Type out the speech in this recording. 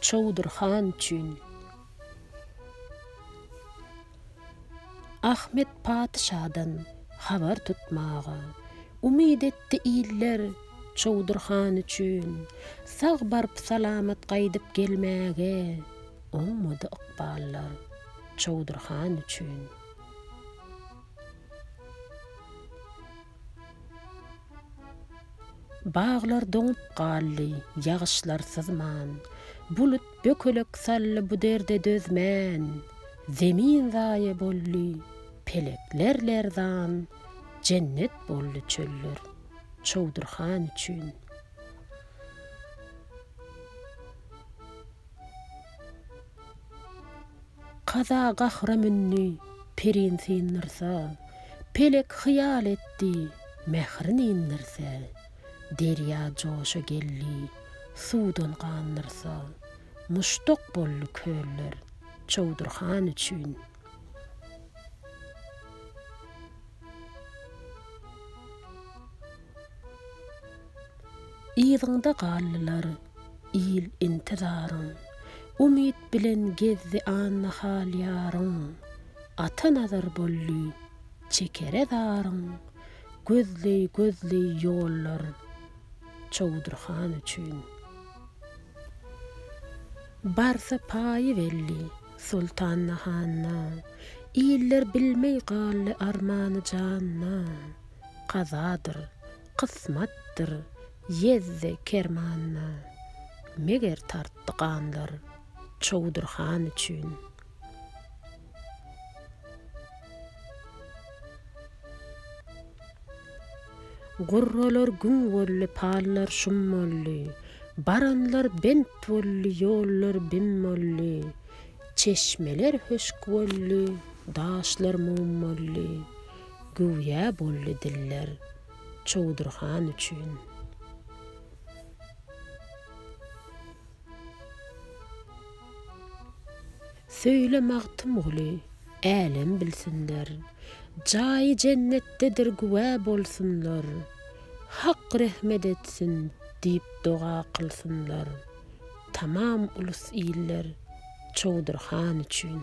Çowdur han üçin. Ahmet patyşadan habar tutmaga. Umyt etdi iller Çowdur han üçin. Sag baryp salamat gaýdyp gelmäge. Oňmady ykballar Çowdur han üçin. Baglar doňup galdy, ýagyşlar syzman, Bulut bökelek saldy bu derde dözmän. Zemin zaýa boldy, pelekler lerzan, Jennet boldy çöller Çowdurhan üçin. Kaza gahra mündi, perin syndyrsä, Pelek hyýal etdi, mährin indirse, Derýa joşa geldi, suwdan gandyrsa, Muşduk boldy köller Çowdur han üçin. Yzyňda galdylar il intizaryn. Umyt bilen gezdi annahal ýaryň. Ata nazar boldy çekere zaryň. Gözleý gözleý ýollar Çowdur han üçin. Barsa paýy belli Soltanda handa. Iller bilmeý galdy armany janda. Kazadyr, kysmatdyr, ýezdi kermanda. Meger tartdy ganlar Çowdur han üçin. Gurralar gün boldy, pallar şum boldy, Baranlar bent boldy, ýollar bim boldy, Çeşmeler höşk boldy, daşlar mum boldy. Güwýä boldy diller Çowdur han üçin. Söýle Magtymguly, älem bilsinler, Jaýy jennetdedir güwä bolsunlar, Hak rehmet etsin diýip doga kylsynlar. Tamam ulus iller Çowdur han üçin.